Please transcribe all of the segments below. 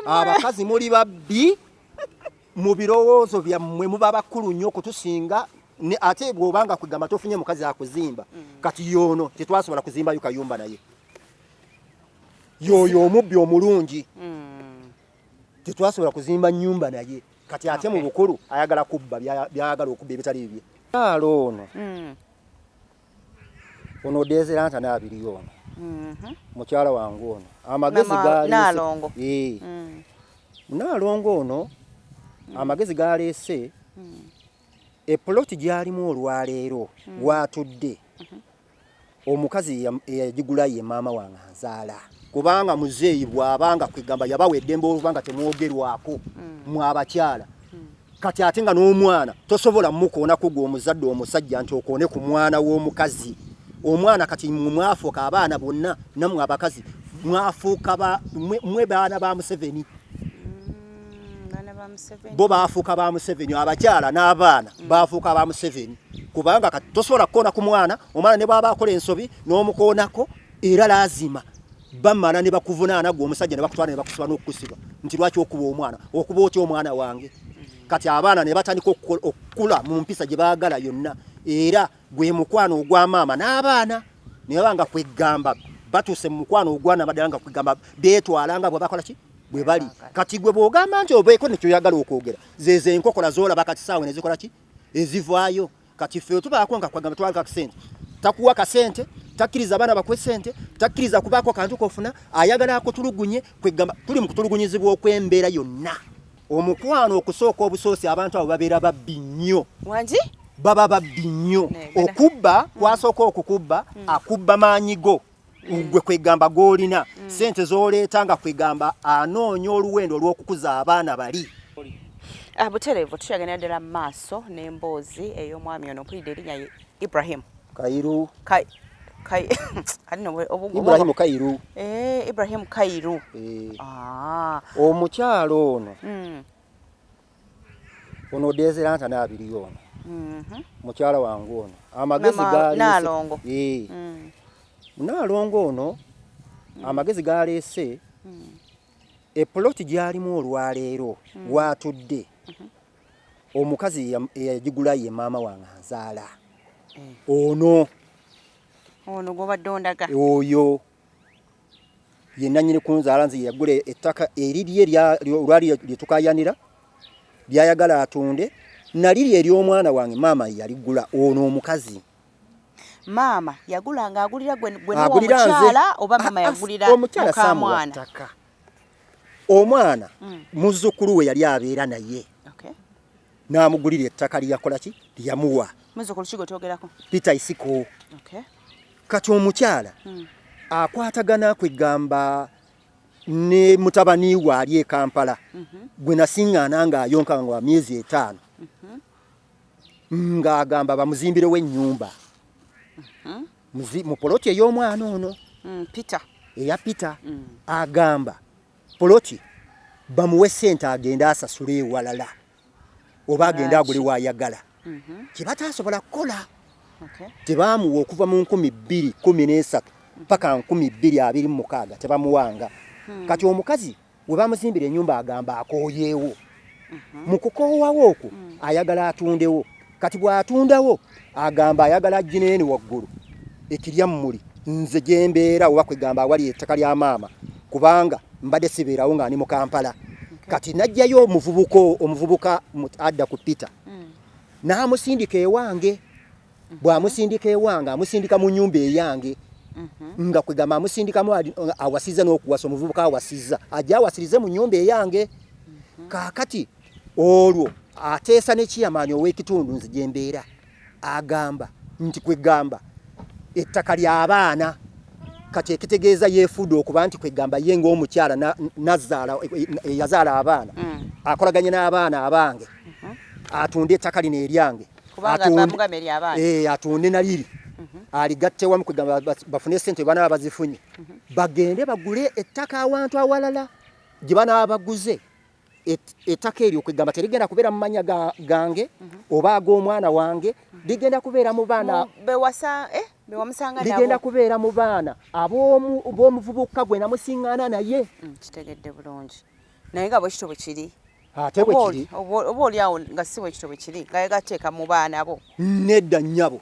abakazi muli babbi mu birowoozo byammwe muba bakulu nnyo okutusinga ate bw'obanga kugamba tofunye mukazi akuzimba mm. kati yoono tetwasobola kuzimbayo kayumba naye yooyo omubbi omulungi mm. tetwasobola kuzimba nyumba naye kati ate mu bukulu ayagala kubba byayagala okubba ebitali bibye kyalo ono mm. ono odezera nta nabiriyo ono mhm. mukyala wange ono amagezi galongo eh. mm. nalongo ono mm. amagezi galese mm. epuloti gyalimu olwaleero watudde mhm. omukazi eyagigula ye maama wange azaala kubanga muzeeyi bwabanga kwegamba yabawa eddembe olubanga temwogerwako mwabakyala kati ate nga n'omwana tosobola mukoona ku gwe omuzadde omusajja nti okoone ku mwana w'omukazi omwana kati mwafuuka abaana bonna namwe abakazi mwafuuka mwe baana ba museveni mm, bo baafuuka ba museveni abakyala n'abaana mm. baafuuka ba museveni kubanga kati tosobola kukoona ku mwana omwana ne bwaba akola ensobi n'omukoonako era laazima bamala ne bakuvunaana gwe omusajja ne bakutwala ne bakusiba n'okukusiba nti lwaki okuba omwana okuba otya omwana wange kati abaana ne batandika okukula mu mpisa gye baagala yonna era gwe mukwano ogwa maama n'abaana ne baba nga kweggamba batuuse mu mukwano ogwana baddala nga kweggamba beetwala nga bwe bakola ki bwe bali kati gwe bw'ogamba nti obeeko nekyoyagala okwogera zezo enkokola zoolaba kati saawe ne zikola ki ezivaayo kati ffe tubaako nga kwagamba twalika kusente takuwa kasente takkiriza abaana bakwe sente takkiriza kubaako kantu kofuna ayagala akutulugunye kwegamba tuli mu kutulugunyizibwa okw'embeera yonna omukwano okusooka obusoosi abantu abo babeera babbi nnyo wangi baba babbi nnyo okubba kwasooka okukubba hmm. akubba maanyi go gwe kwegamba gwolina mm. sente zoleeta nga kwegamba anoonya oluwendo olw'okukuza abaana bali ah, butereevu tukyagenda ddala mu maaso n'emboozi ey'omwami ono mpulidde erinnya ye ibrahim kairu ibrahim kairu eh, ibrahim kairu eh. Ah. omukyalo ono mm. ono dezera nta nabiri yono mm -hmm. mukyala wangu ono amagezi gali nalongo ee mm. nalongo ono mm. amagezi gali ese mm. e plot jali mu olwalero mm. watudde mm -hmm. omukazi yajigula ye mama wange azala mm. ono ono gobadde ondaga oyo ye nannyini kunzaala nze yeyagula ettaka erirye olwali lyetukayanira lyayagala atunde naliri ery'omwana wange maama yaligula ono omukazi maama yagula nga agulira gwemukyala oba maama yagulira mukamwana omwana mm. muzzukulu we yali abeera naye n'amugulira ettaka lyeyakola ki lyeyamuwa pita isiko kati omukyala hmm. akwatagana kwegamba ne mutabani we ali e kampala mhm. gwe nasiŋŋaana ng'ayonka nga wa myezi etaano mhm. ng'agamba bamuzimbirewo ennyumba mhm. mu poloti ey'omwana ono hmm, eya peter hmm. agamba poloti bamuwe sente agende asasule ewalala oba agende agule wayagala mhm. kyebatasobola kukola tebamuwa okuva mu nkumi bbiri kumi n'esatu paka nkumi bbiri abiri mumukaaga tebamuwanga hmm. kati omukazi webamuzimbira enyumba agamba akoyeewo mhm. mu kukoowawo okwo mm. ayagala atundewo kati bw'atundawo agamba ayagala ajjineeni waggulu ekirya mmuli nze gye mbeera oba kwegamba awali ettaka lya maama kubanga mbadde sibeerawo nga ndi mu kampala kati najjayo omuvubuka omuvubuka adda ku peter mm. n'amusindika ewange mhm. bwamusindika ewange amusindika mu nyumba eyange mhm. nga kwegamba amusindikamu awasiza n'okuwasa omuvubuka awasiza ajja awasirize mu nyumba eyange mhm. kakati olwo ateesa nekiyamaanyi ow'ekitundu nze gyembeera agamba nti kwegamba ettaka ly'abaana kati ekitegeeza yefuude okuba nti kwegamba ye ngaomukyala nazaala e, e, e, yazaala abaana mm. akolaganye n'abaana abange mm-hmm. atunde ettaka lino eryange eh, atunde naliri mhm. aligatte wamu kwegamba bafune esente banaba bazifunye mhm. bagende bagule ettaka awantu awalala gye banaba baguze ettaka eryo kwegamba terigenda kubeera mu manya gange mhm. oba ag'omwana wange ligenda kubeera mu baana bewasa eh? ligenda kubeera mu baana ab'omuvubuka gwe namusingana naye mm, kitegedde bulungi naye nga bwekityo bwe kiri ate bwe kiri oba oli awo nga si bwe kityo bwe kiri nga yegateeka mu baana bo nedda nnyabo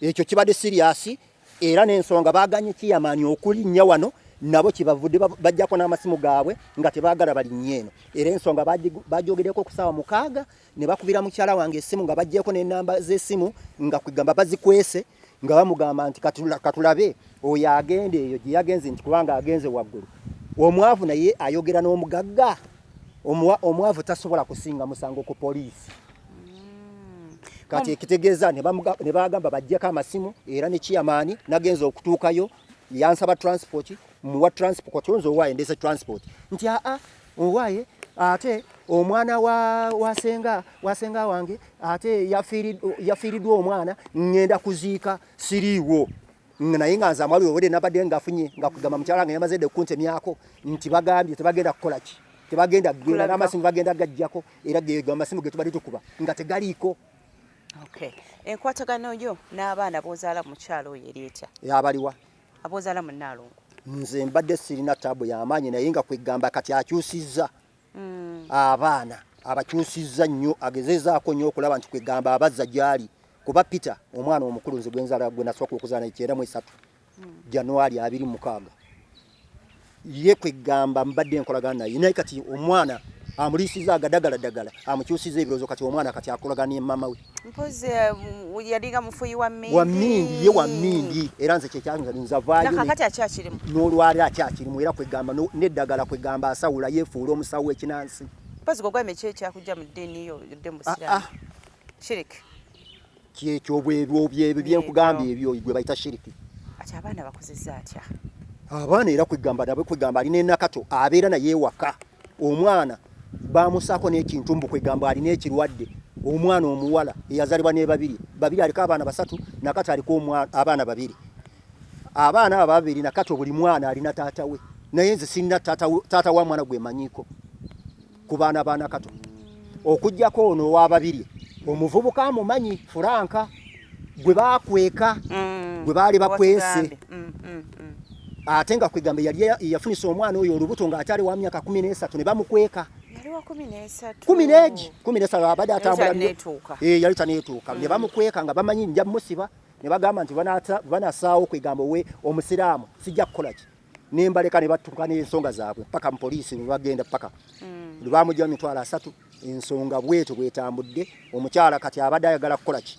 ekyo kibadde siriyasi era n'ensonga baaganye kiyamaanyi okulinnya wano nabo kibavudde bajjako n'amasimu gaabwe nga tebaagala balinnya eno era ensonga bagyogeddeko okusaawa mukaaga ne bakubira mukyala wange esimu nga bajjeeko n'ennamba z'essimu nga kwegamba bazikwese nga bamugamba nti katulabe oyo agenda eyo gye yagenze nti kubanga agenze waggulu omwavu naye ayogera n'omugagga omwavu tasobola kusinga musango ku poliisi hmm. kati ekitegeeza ne bagamba bajjeko amasimu era ne kiyamaani nagenza okutuukayo yansaba transport muwa transport nze owaayo ndeese transport nti aa Owaye ate omwana wa wasenga wasenga wange ate yafiiridwa omwana ngenda kuziika siriiwo naye nga nze amwali obudde nabadde ngafunye nga kugamba mukyala nga yamaze dde kuntemyako nti bagambye tebagenda kukola ki tebagenda kugenda n'amasimu bagenda gajjako era geego amasimu ge tubadde tukuba nga tegaliiko enkwatagano yo n'abaana b'ozaala mukyalo oyo eri etya abaliwa abozala munalongo nze mbadde sirina tabu yamaanyi naye nga kwegamba kati akyusizza mm. abaana abakyusizza nnyo agezezaako nnyo okulaba nti kwegamba abazza gyali kuba peter omwana omukulu nze gwenzala gwe nasooka okuzaana ekyenda mu esatu mm. januari abiri mukaaga ye kwegamba mbadde nkolagana naye naye kati omwana amuliisiza agadagala dagala amukyusiza ebirozo kati omwana kati akolagana ne mama we mpozi um, yalinga mufuyi wa mindi wa mindi ye wa mindi era nze kye kyanga nza vayo na kati acha kirimu no lwali acha kirimu era kwegamba no ne dagala kwegamba asawula ye fuulo musawo ekinansi mpozi gogwa meche kya kujja mu dini yo yodde musira ah, ah. shirik kyekyo bwebyo byebyo byenkugambye ebyo gwe bayita shiriki ati abaana bakozeza atya abaana era kwegamba nabwe kwegamba alina enakato abeera naye ewaka omwana bamusaako n'ekintu mbu kwegamba alina ekirwadde omwana omuwala eyazalibwa ne babiri babiri aliko abaana basatu nakati aliko abaana babiri abaana abo babiri nakati buli mwana alina taata we naye nze sirina taata wa mwana gwe manyiko ku baana ba nakato okujjako ono owababiri omuvubuka amumanyi furanka gwe bakweka mm. gwe baali bakwese mm, mm, ate nga kwegamba yali yafunisa omwana oyo olubuto nga akyali wa myaka kumi n'esatu ne bamukweka kumi n'egi kumi n'esatu abadde atambula eh, yali taneetuuka ne bamukweka nga bamanyi nja musiba ne bagamba nti banasaawo kwegamba owe omusiraamu sijja kukola ki nembaleka ne batuka n'ensonga zaabwe paka mu poliisi bwe bagenda paka mm. lwe bamugya mitwalo asatu ensonga bwetyo bwetambudde omukyala kati abadde ayagala kukola ki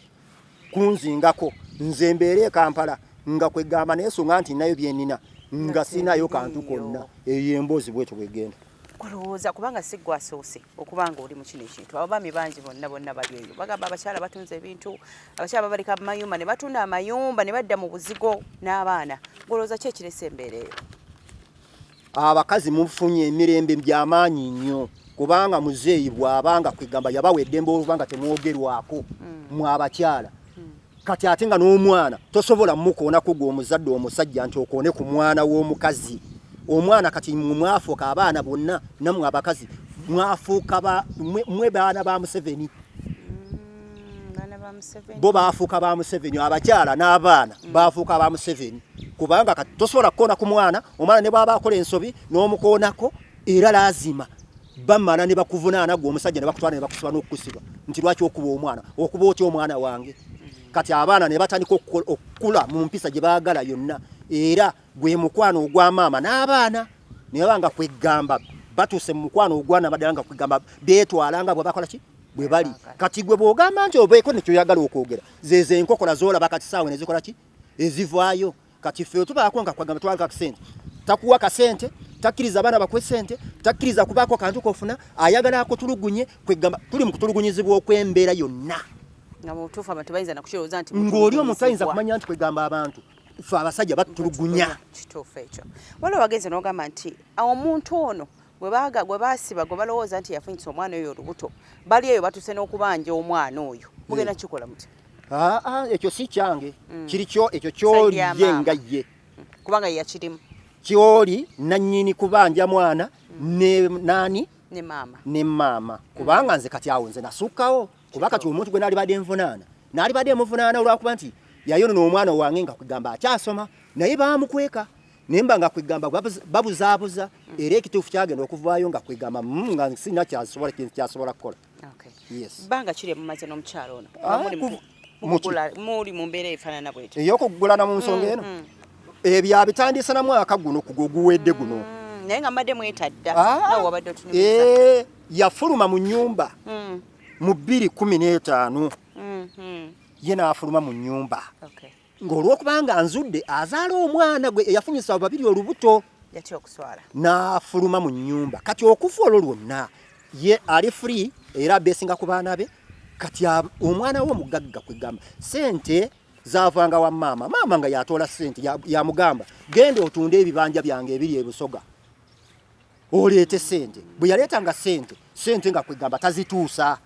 kunzingako nze mbeera e kampala nga kwegamba neesonga nti nayo byenina nga sinayo kantu konna eyo emboozi bwetyo bwegenda kulowooza kubanga si gwe asoose okuba nga oli mu kino ekintu abaami bangi bonna bonna bali eyo bagamba abakyala batunze ebintu abakyala babaleka mu mayumba ne batunda amayumba ne badda mu buzigo n'abaana golowooza ki ekiresa embeera eyo abakazi mufunye emirembe byamaanyi nnyo kubanga muzeeyi bw'abanga kwegamba yabawa eddembe olubanga temwogerwako hmm. mwabakyala kati ate nga n'omwana tosobola mukoonako gwe omuzadde omusajja nti okoone ku mwana w'omukazi omwana kati mwafuuka abaana bonna namwe abakazi mwafuuka mwe baana ba museveni mm, bo baafuuka ba museveni abakyala n'abaana mm. baafuuka ba museveni kubanga kati tosobola kukoona ku mwana omwana ne bwaba akola ensobi n'omukoonako era laazima bamala ne bakuvunaana gwe omusajja ne bakutwala ne bakusiba n'okukusiba nti lwaki okuba omwana okuba otya omwana wange kati abaana ne batandika okukula mu mpisa gye baagala yonna era gwe mukwano ogwa maama n'abaana ne baba nga kweggamba batuuse mu mukwano ogwana baddala nga kweggamba beetwala nga bwe bakola ki bwe bali kati gwe bw'ogamba nti obeeko nekyoyagala okwogera zezo enkokola zoolaba kati saawe ne zikola ki ezivaayo kati ffe tubaako nga kwagamba twalika kusente takuwa kasente takkiriza abaana bakwe sente takkiriza kubaako kantu kofuna ayagala akutulugunye kwegamba tuli mu kutulugunyizibwa okw'embeera yonna ng'oli omuntu ayinza kumanya nti kwegamba abantu fe abasajja batulugunya kituufu ekyo waliwo wagenze n'ogamba nti omuntu ono gwe baasiba gwe balowooza nti yafunyisa omwana oyo olubuto bali eyo batuuse n'okubanja omwana oyo mugenda kikola mutya ah, ah, ekyo si kyange mm. kiri kyo ekyo kyoli ye nga ye mm. kubanga yakirimu kyoli nannyini kubanja mwana mm. ne nani ne maama ne maama kubanga nze kati awo nze nasukkawo kuba kati omuntu gwe naalibadde nvunaana naalibadde muvunaana olwakuba nti yayonona omwana wange nga kugamba akyasoma naye baamukweka nemba nga kwegamba babuzabuza era ekituufu kyagenda okuvaayo nga kwegamba mm, nga sina kyasobola kintu kyasobola kukola banga kiri mumaze n'omukyalo ono ah, muli mu mbeera efaanana bwetyo ey'okugulana mu nsonga mm, eno mm. ebyo eh, abitandise na mwaka guno ku guwedde guno naye nga mbadde mwetadda ah, wabadde otunyumiza eh, yafuluma mu nyumba mu bbiri kumi n'etaano mm-hmm. ye n'afuluma mu nyumba ng'olwokubanga anzudde azaala omwana gwe eyafunyisa abo babiri olubuto yatya okuswala n'afuluma mu nnyumba kati okufa olwo lwonna ye ali free era abeesinga ku baana be kati omwana we omugagga kwegamba sente zavanga wa maama maama nga yatoola sente yamugamba genda otunde ebibanja byange ebiri ebusoga oleete sente bwe yaleetanga sente sente nga kwegamba tazituusa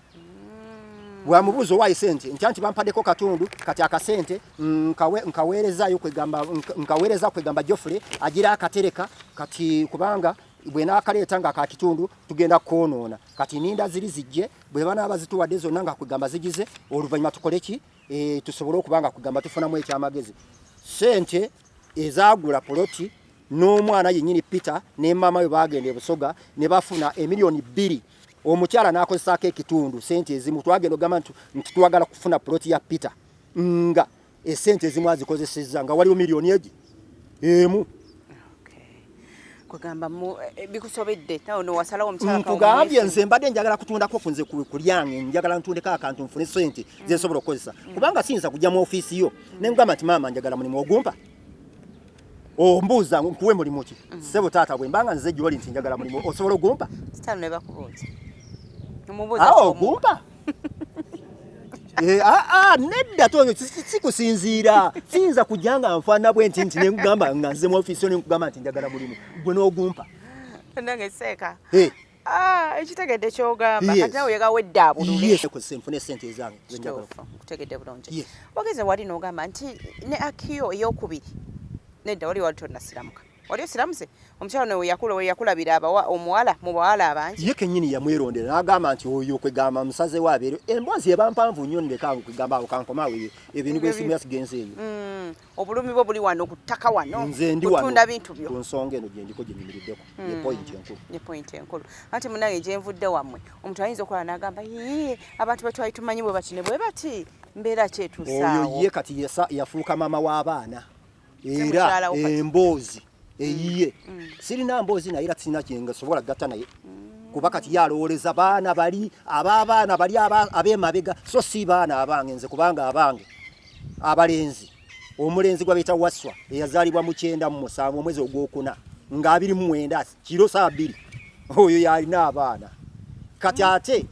bwamubuuza owaayi sente ntya nti bampaddeko katundu kati akasente mm, nkaweerezaayo kwegamba nkaweereza kwegamba jofule agira akatereka kati kubanga bwe naakaleeta nga kakitundu tugenda kwonoona kati ninda ziri zijje bwe banaaba zituwadde zonna nga kwegamba zigize oluvannyuma tukole ki e, tusobole okuba nga kwegamba tufunamu ekyamagezi sente ezaagula poloti n'omwana yennyini peter ne maama we baagenda ebusoga ne bafuna emiliyoni bbiri omukyala n'akozesaako ekitundu sente ezimu twagenda ogamba nti twagala kufuna poloti ya peter nga esente ezimu azikozesezza nga waliwo miliyoni egi emu Eh, nkugambye mm, nze mbadde njagala kutundako kunze kulyange njagala ntundeko akantu nfune sente mm. zensobola okukozesa mm. kubanga siyinza kujja mu ofiisi yo nengamba nti maama njagala mulimu ogumpa ombuuza nkuwe mulimu ki sebo taata bwe mbanga nze gyoli nti njagala mulimu osobola ogumpa ogumpa Eh, ah, ah, nedda tonyo sikusinziira siyinza kujja nga nfaana bwe nti nti nenkugamba nga nze mu ofiisi yo nenkugamba nti njagala mulimu gwe n'ogumpa nange seeka eh. ah, ekitegedde kyogamba kati nawe yegawedda abululnfune sente ezange kutegedde bulungi wageze wali n'ogamba nti ne akiyo eyokubiri nedda wali wali tonasiramuka wali osiramuse omukyalo newe yakula we yakula biraba wa omuwala mu bawala abangi ye kenyini yamwerondera n'agamba nti oyo kwegamba musaze wa bero embwazi eba mpanvu nnyo ndeka kwegamba awo kankoma awo ebintu by'ensimu yasigenze eyo mm, obulumi bwo buli wano ku ttaka wano nze ndi wano bintu byo ku nsonga eno gye ndiko gye nyimiriddeko mm. ye point enkulu ye point enkulu ati munange gye nvudde wammwe omuntu ayinza okulaba n'agamba yii abantu betwali tumanyi bwe bati ne bwe bati mbeera kyetuusaawo oyo ye kati yafuuka maama w'abaana era emboozi mm. eyiye mm. sirina mboozi naye era sirina kyengasobola gatta naye mm. kuba kati yalowooleza baana bali abaabaana bali ab'emabega so si baana abange nze kubanga abange abalenzi omulenzi gwa beta waswa eyazalibwa mu kyenda mu musanvu omwezi ogwokuna nga abiri mu mwenda kiro saa bbiri oyo yalina abaana kati ate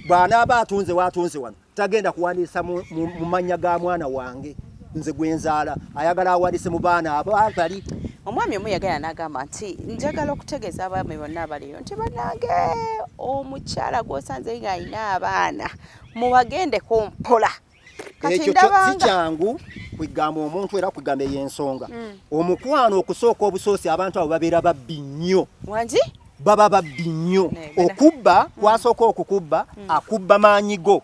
bwanaaba atunze waatunze wano tagenda kuwandiisa mu mannya ga mwana wange nze gwe nzaala ayagala awandiise mu baana abo abali omwami omu yagala n'agamba nti njagala okutegeeza abaami bonna abaliyo nti banange omukyala gwosanze nga alina abaana mubagendeko mpola ekyo sikyangu kwegamba omuntu era kwegamba ey'ensonga hmm. omukwano okusooka obusoosi abantu abo babeera babbi nnyo wangi baba babbi nnyo okubba kwasooka okukubba mm. akubba maanyi go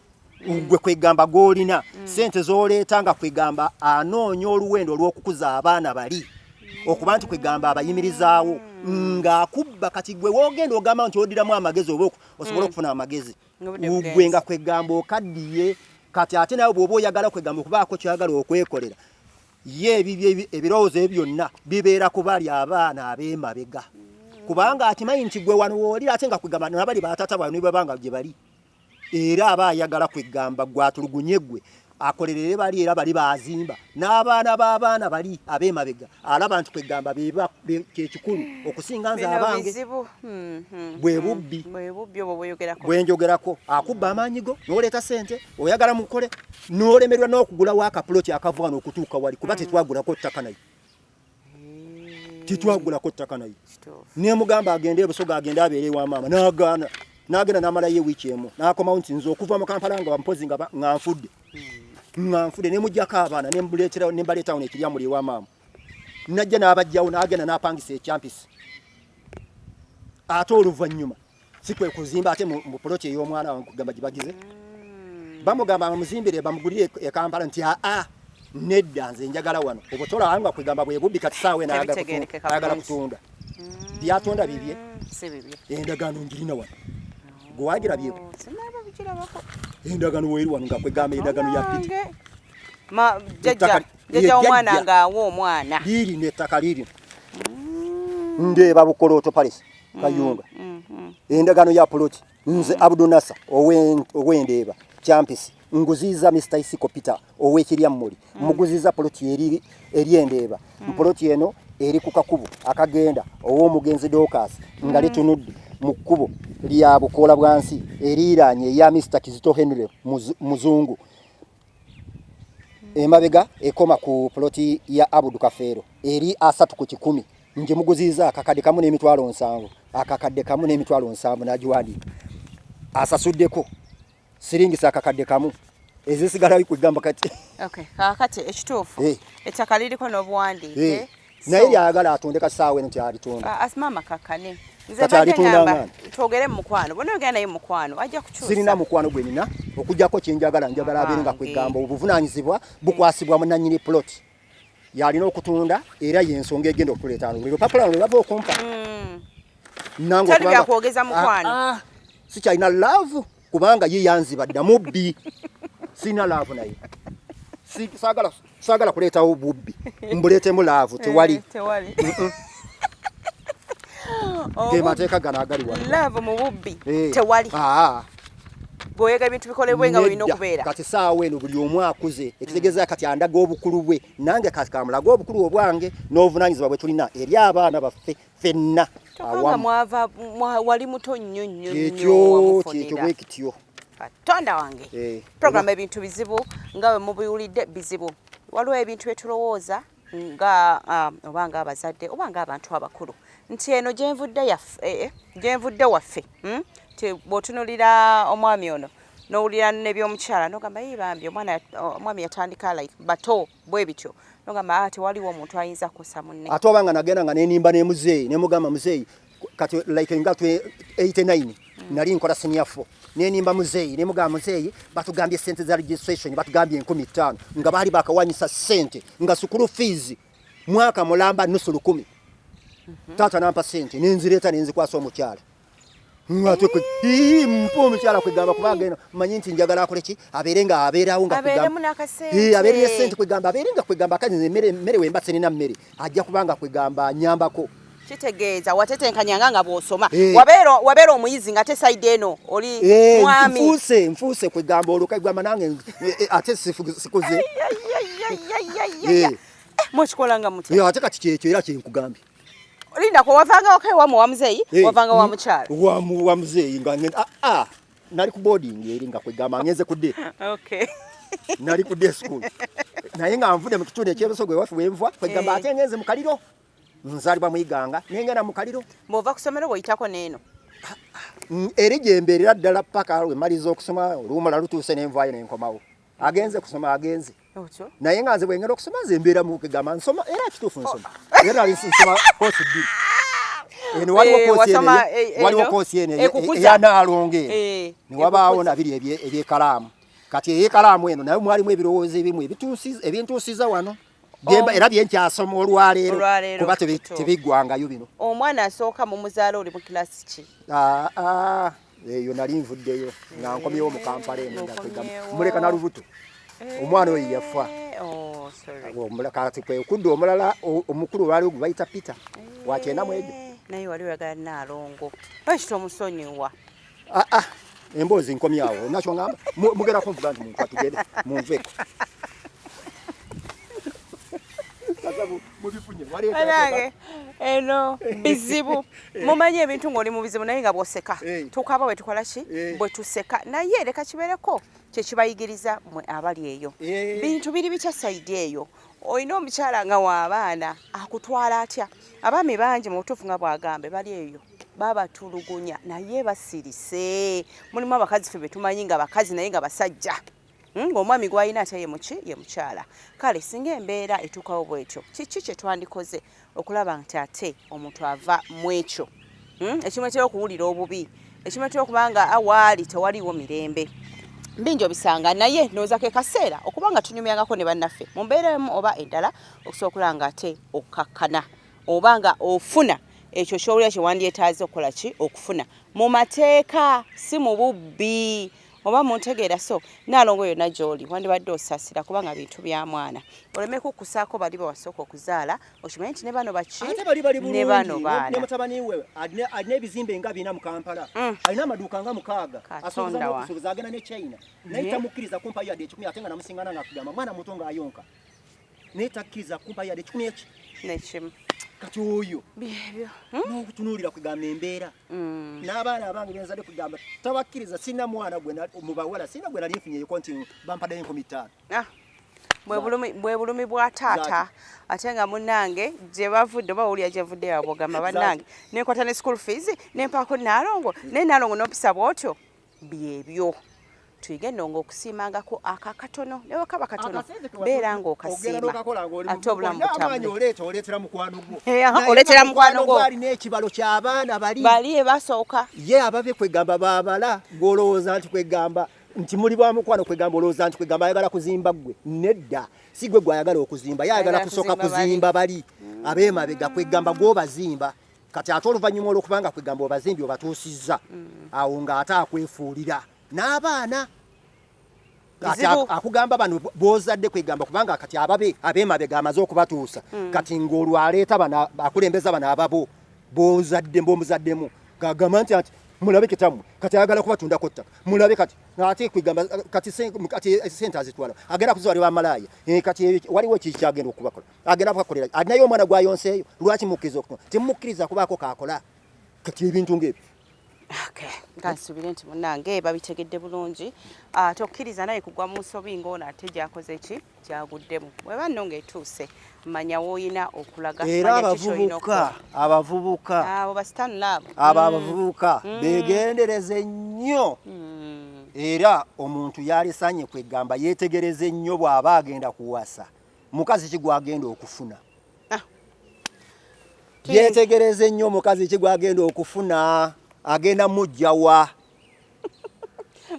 mm. gwe kwegamba gwolina mm. sente zoleeta nga kwegamba anoonya oluwendo olw'okukuza abaana bali okuba nti kwegamba abayimirizaawo ng'akubba kati gwe wogenda ogamba nti odiramu amagezi oba osobole okufuna amagezi gwe nga kwegamba okaddiye kati ate nawe bwoba oyagala kwegamba okubaako kyoyagala okwekolera ye ebibye ebirowoozo ebyo byonna bibeera ku bali abaana ab'emabega kubanga akimanyi nti gwe wano woolira ate nga kwegamba nabali batata bano baba nga gye bali era aba ayagala kwegamba gwatulugunye gwe akolerere bali era bali bazimba n'abaana b'abaana bali ab'emabega alaba nti kwegamba kyekikulu okusinga nze abange hmm, hmm, bwe hmm. bubbi bwe njogerako akubba amaanyi go n'oleeta sente oyagala mukole nolemerwa nokugula waka plot akavwana okutuuka wali kuba mm. tetwagula ko ttaka nayo mm. tetwagula ko ttaka nayo ne mugamba agende ebusoga agende abere wa mama nagana nagenda namala ye wiki emu nakoma unti nzo kuva mu kampala nga mpozi nga nganfudde mm. nganfudde ne mujja ka abana ne mbuletera ne mbaleta on ekirya muli wa mama najja nabajjawo nagenda napangisa echampisi ate oluvanyuma si kwe kuzimba ate mu poloti ey'omwana wange kugamba gibagize mm. bamugamba bamuzimbire bamugulire e kampala nti aa nedda nze njagala wano obutola wanga kwegamba bwe bubbi kati saawe nayagala kutunda mm. byatunda bibye endagaano njirina wano oh, gwewagira byeko endagaano weeri wano nga kwegamba endagaano ya piti jajja omwana ngaawa omwana liiri nettaka liirino mm. ndeeba bukolooto palesi mm, kayunga mm, mm. endagaano ya poloti nze abudunasa owendeeba kyampisi nguziiza mr isiko peter owekiryammuli muguziiza poloti eri endeeba poloti eno eri ku kakubo akagenda ow'omugenzi dokas nga litunudde mu kkubo lya bukoola bwansi eriiraanye eya mr kizito henry muzungu emabega ekoma ku ploti ya Abudu Kafeero eri asatu ku kikumi nje muguziza akakadde kamu n'emitwalo nsanvu akakadde kamu n'emitwalo nsanvu nagiwandiika asasuddeko siringisa akakadde kamu ezisigalayo kwegamba kati okay, kakati ekituufu hey. Eh. ettaka liriko n'obuwandiike hey. Eh. naye lyayagala atunde kasaawa eno tyalitunda ah, asimama kakane twogere mumukwano bona ogenda naye mukwano ajja kukyusa sirina mukwano gwe nina okujjako kyenjagala njagala abeere nga kwegamba obuvunaanyizibwa bukwasibwa munanyini plot yalina okutunda era yensonga egenda okuleeta lero papula lwe bava okumpa hmm. nange ah, ah, sikyalina love kubanga ye yanziba dda mubbi sirina laavu naye saagala kuleetawo bubbi mbuleetemu laavu tewali eh, ge mateeka gano agali wano laavu mu bubbi eh. tewali bwoyega ebintu bikolebwe nga olina okubeera kati saawa eno buli omu akuze ekitegeeza kati andaga obukulu bwe nange kati kamulaga obukulu obwange n'obuvunaanyizibwa bwe tulina eri abaana baffe fenna wali muto nnyo nnyo kyekyo kyekyo bwe kityo katonda wange eh, programu ebintu bizibu nga we mubiwulidde bizibu waliwo ebintu bye tulowooza nga um, oba nga abazadde oba nga abantu abakulu nti eno gyenvudde yaffe eh, eh, gyenvudde waffe hmm? ti bwotunulira omwami ono nowulira nebyomukyala nogamba yi bambi omwami yatandika like bato bwe bityo nogamba ah, tewaliwo omuntu ayinza kukosa munne ate oba nga nagenda nga nenimba ne muzeeyi ne mugamba muzeeyi kati like nga 89 mm. nali nkola senior 4 nenimba muzeeyi ne mugamba muzeeyi batugambye sente za registration batugambye enkumi ttaano nga baali bakawanyisa sente nga sukulu fees mwaka mulamba nusu lukumi mm -hmm. taata nampa sente nenzireeta nenzikwasa omukyala ngate ii mpo omukyala kwegamba kuba agenda manyi nti njagala akole ki abeere nga abeerawo nga abeere ne sente kwegamba abeere nga kwegamba kati nze mmere mmere wemba sirina mmere ajja kuba nga kwegamba nyambako kitegeeza watetenkanyanga nga bw'osoma wabeera omuyizi nga te saidi eno oli eh, mwami nfuuse nfuuse kwegamba olwo kwegamba nange eh, eh, ate sikuze mukikola nga mutya ate kati kyekyo era kyenkugambye Linda kwa wavanga okay wa muamzei hey, wavanga wa mchara wa muamzei ngani ah ah nali ku boarding eri nga kwegama ngeze ku day okay nali ku day school naye nga nvude mu kitone kyebeso gwe wafu wenvwa kwegamba hey. Eh. atengeze mu kaliro nzalibwa mu iganga nenge na mu kaliro mova kusomero bo itako neno ah, ah. eri jemberera dala paka we malizo okusoma olumala lutuse nenvayo nenkomawo agenze kusoma agenze naye nga nze bwengenda okusoma nze mbeera mukigamba nsoma era kituufu nsoma oh. era ali nsoma koosi bbiri eno waliwo eh, koosi eno eh, eh, waliwo koosi eno eyanaalonga eno ne wabaawo nabiri ebyekalaamu kati eyekalaamu eno nayo mwalimu ebirowoozo ebimu ebintuusiza wano Oh. era byenkyasoma olwaleero kuba tebiggwangayo bino omwana asooka mu muzaala oli mu kilasi ki ah, ah. eyo nali nvuddeyo nga eh, nkomyewo mu kampala eno muleka na lubuto eh, omwana oyo yafa oh, kati kwekudda omulala omukulu olwaliwo gwe bayita peter eh, wakyenda mwegyo naye wali oyagala naalongo bakita omusonyiwa Ah, ah. emboozi nkomyawo nakyo ngamba mugerako nvuga nti muntu atugere munveko eno bizibu eh. mumanyi ebintu ngaoli mubizibu naye nga bwoseka eh. tukaba wetukola ki eh. bwetuseka naye leka kibereko kyekibayigiriza mwe abali eyo bintu biri bitya saidi eyo olina omukyala nga waabaana akutwala atya abaami bangi mubutuufu nga bwagambe bali eyo babatulugunya naye basirise mulimu abakazi fe betumanyi nga bakazi naye nga basajja hmm, ngaomwami gwalina ate yemuki ye mukyala kale singa embeera etuukawo bwetyo kiki kyetwandikoze okulaba nti ate omuntu ava mu ekyo hmm, ekimwetera okuwulira obubi ekimwetera okuba nga awaali tewaliwo mirembe bingi obisanga naye noza ke kaseera okuba nga tunyumyangako ne bannaffe mu mbeera emu oba endala okusobola okulaba nga ate okkakkana oba nga ofuna ekyo kyowulira kyewandyetaaze okukola ki okufuna mu mateeka si mu bubbi oba muntegeera so naalongo yonna gy'oli wandibadde osasira kubanga bintu bya mwana oleme kukkusaako bali bawasooka okuzaala okimanyi nti ne bano baki ne bano baana mutabani we alina ebizimbe nga bina mu kampala mm. alina amaduuka nga mukaaga asobozaagenda ne china naye tamukkiriza kumpayo yadde ekikumi ate nga namusingana nga akugamba mwana muto ng'ayonka naye takkiriza kumpa yadde ekikumi eki nekimu kati oyo byebyo hmm? nokutunuulira kugamba embeera hmm. n'abaana abange benzadde kugamba tabakkiriza sina mwana gwe mubawala sina gwe nali nfunyeyeko nti bampaddeyo enkumi ttaano ah, bwe bulumi bwa taata ate nga munange gye bavudde oba wulira gye vudde yabogamba bannange nenkwata ne school fees nempaako naalongo naye naalongo nompisa bwotyo byebyo tuyige ennongo okusiimangako ako akatono ne bwe kaba katono beera ng'okasiima ate obulamu butambulaoleetera mukwano gwo eh, alina ekibalo ky'abaana bali bali ebasooka ye ababe kwegamba babala gw'olowooza nti kwegamba nti muli bwa mukwano kwegamba olowooza nti kwegamba ayagala kuzimba ggwe nedda si gwe gwayagala okuzimba ye ayagala kusooka kuzimba bali abeemabega kwegamba gw'obazimba kati ate oluvannyuma olwokuba nga kwegamba obazimbi obatuusizza mm. awo nga ate akwefuulira n'abaana kati akugamba bano bozadde kwegamba kubanga kati ababe abemabega amaze okubatuusa mm. kati ng'olwo aleeta bana akulembeza bano ababo bozadde mbomuzaddemu gagamba nti ati mulabe kitamu kati ayagala kubatundako ttaka mulabe kati ate kwegamba kati sente azitwala agenda kuzwalibwa amalaaya eh, kati waliwo ekikyagenda okubakola agenda kukakolera alinayo omwana gwayonseeyo lwaki mukkiriza okutuma temukkiriza kubaako kaakola kati ebintu ngaebyo kansubire nti munange babitegedde bulungi ah, tokkiriza naye kugwa mu nsobi ngaono ate gyakoze ki gyaguddemu weba nno ngaetuuse manya woolina okulaga era abavubuka abavubuka abo basitanulaabo abo mm. abavubuka mm. begendereze nnyo mm. era omuntu yalisanye kwegamba yetegereze nnyo bw'aba agenda kuwasa mukazi ki gwagenda okufuna ah. yetegereze nnyo omukazi ki gwagenda okufuna agenda mujjawa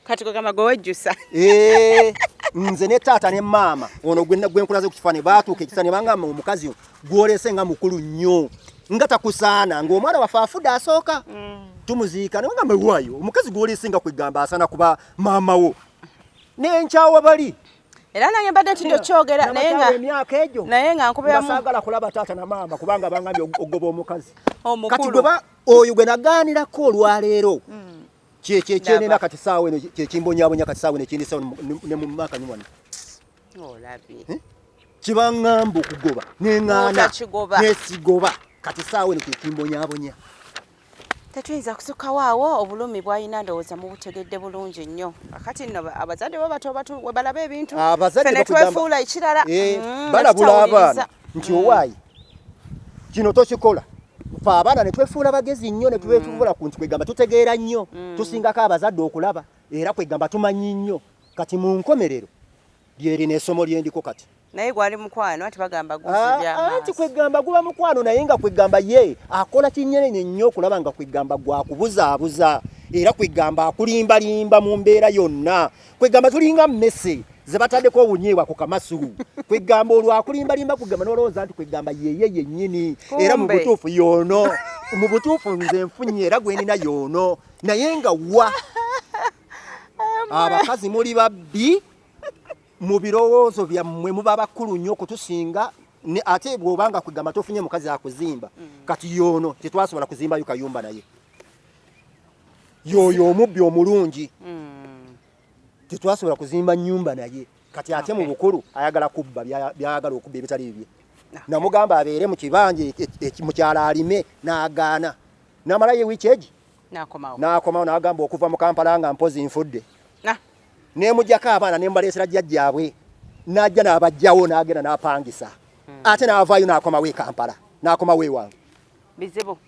kati kugamba gwe wejjusa eh, nze ne taata ne maama ono gwenkulaze ku kifaani baatuuka ekisa ne bangamba omukazi gwolese nga mukulu nnyo nga takusaana ng'omwana waffe afude asooka mm. tumuziika ne bagamba waayo omukazi gwolese nga kwegamba asaana kuba maama wo nenkyawa bali era nange mbadde ntidde okyogera emyaka egyo naye nga nkubeasagala kulaba taata na maama kubanga bangambye okugoba omukazi kati gweba oyo gwe nagaanirako olwaleero hmm. kyekyenena kati saawa eno kyekimbonyabonya kati saawa eno ekindisawo ne mu maaka niwano eh? kibangamba okugoba neŋaana nesigoba kati saawa eno kyekimbonyabonya Tetuyinza kusukawo awo obulumi bwalina ndowooza mubutegedde bulungi nnyo. Kati nno abazadde bo bato batu we balaba ebintu ah, ffe ne twefuula ekirala. Eh, mm, balabula abaana nti mm. owaayi kino tokikola fe abaana ne twefuula bagezi nnyo ne twefuula mm. ku nti kwegamba tutegeera nnyo tusingako abazadde okulaba era kwegamba tumanyi nnyo kati mu nkomerero lyerino esomo lyendiko kati. naye gwali mukwano anti bagamba guzibya ah, anti kwegamba guba mukwano naye nga kwegamba ye akola kinyenenye nnyo okulaba nga kwegamba gwakubuzaabuza era kwegamba akulimbalimba mu mbeera yonna kwegamba tulinga mmese ze bataddeko obunyeebwa ku kamasulu kwegamba olwakulimbalimba kugamba nolowooza nti kwegamba yeye yennyini era mu butuufu yoono mu butuufu nze nfunye era gwenina yoono naye nga wa abakazi muli babbi mu birowoozo byammwe muba bakulu nnyo okutusinga ate bw'oba nga kwegamba tofunye mukazi akuzimba mm. kati yoono tetwasobola kuzimbayo kayumba naye yooyo omubbi omulungi mm. tetwasobola kuzimba nyumba naye kati ate mu bukulu ayagala kubba byayagala okubba ebitali bibye ah. namugamba abeere mu kibanja e, e, e, mukyala alime n'agaana namalayo wiiki egi n'akomawo n'agamba okuva mu kampala nga mpozi nfudde ah. nemujako abaana nemubaleesera jjajjaabwe najja nabajjawo nagenda napangisa hmm. ate navaayo nakomawo ekampala nakomawo ewange bizibu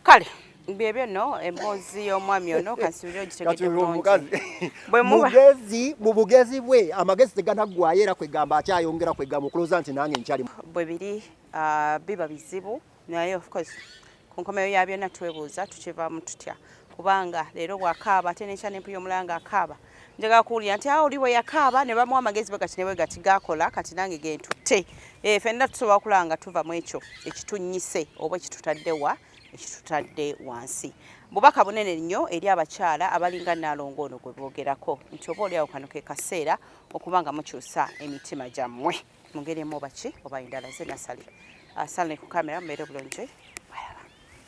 kale byebyo no emboozi y'omwami ono kansubire ogitegedde bulungi mugezi mu bugezi bwe amagezi teganaggwayo era kwegamba akyayongera kwegamba okuloza nti nange nkyali bwe biri ah, biba bizibu naye of course ku nkomeyo ya byonna twebuuza tukivaamu tutya kubanga leero bwakaaba ate nekya nempuya omulala nga akaaba njagala kuwulira nti awo oli bwe yakaaba ne bamuwa amagezi bwe gati ne bwe gati gakola kati nange gentutte eh, fenna tusobola okulaba nga tuva mu ekyo ekitunnyise oba ekitutadde wa ekitutadde wansi bubaka bunene nnyo eri abakyala abalinga naalongo ono gwe boogerako nti oba oli awo kano ke kaseera okuba nga mukyusa emitima gyammwe mu ngeri emu oba ki oba endala nze nasali asala ne ku kamera mbeere bulungi